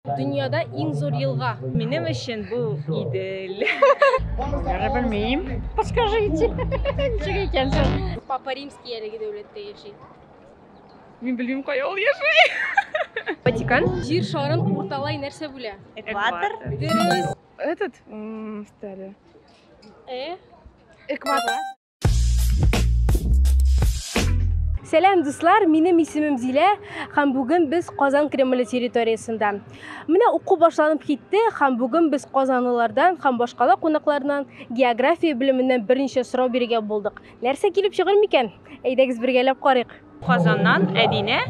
Дөньяда иң зур елга. Минем өчен бу Идел. Әле белмим. Подскажите. Ничек икән соң? Папа Римский әлеге дәүләттә яши. Мин белмим кая ул яши. Ватикан. Җир шарын урталай нәрсә бүлә? Экватор. Дөрес. Этот, стали. Э? Экватор. Сәләм, дуслар, минем исемем Зилә, һәм бүген без Казан Кремле территориясендә. Менә уку башланып китте, һәм бүген без казанлылардан һәм башкала кунакларынан география белеменнән берничә сорау бирергә булдык. Нәрсә килеп чыгыр микән? Әйдәгез бергәләп карыйк. Казаннан Әдинә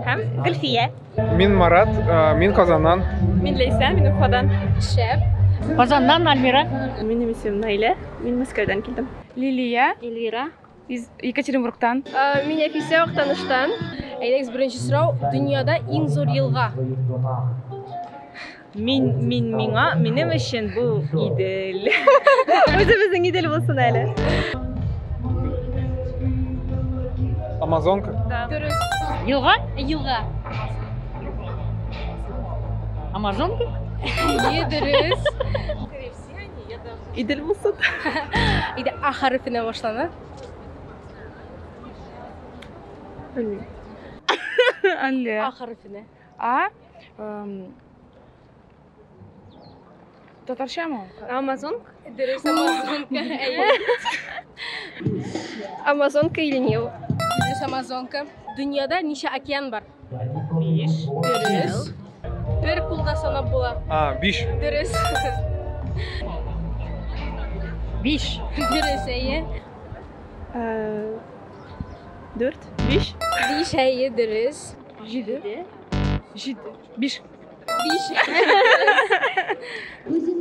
һәм Гөлфия. Мин Марат, мин Казаннан. Мин Лейсә, мин Уфадан. Шәп. Казаннан Альмира. Минем исемем Наилә, мин Мәскәүдән килдем. Лилия. Эльвира. Из Екатеринбургтан. Мин Әфисә Актаныштан. Әйдәгез, беренче сорау, дөньяда иң зур елга? Мин, мин, миңа, минем өчен бу Идел. Үзебезнең Идел булсын әле. Амазонка. Дөрес. Елга? Елга. Амазонка? Е, дөрес. Идел булсын. Иде А хәрефенә башлана. Әллә. А хәрефенә. А эм, татарча ма? Амазон? Дөрес, Амазонка. Әйе. Амазонка или Нил? Дөрес, Амазонка. Дөньяда ничә океан бар? Биш. Дөрес. Бер кулда санап була. А, биш. Дөрес. Биш. Дөрес, әйе. Э, Дүрт. Биш. Биш, әйе, дөрес. Җиде. Җиде. Биш. Биш.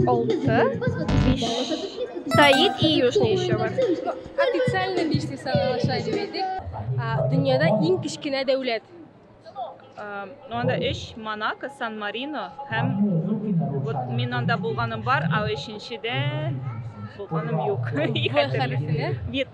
Алты. Биш. Стоит и южный еще бар. Официально биш дип саналыша дип әйтик. Дөньяда иң кечкенә дәүләт. Анда өч Монако, Сан Марино һәм вот мин анда булганым бар, а өченчедә булганым юк. Вьетнам.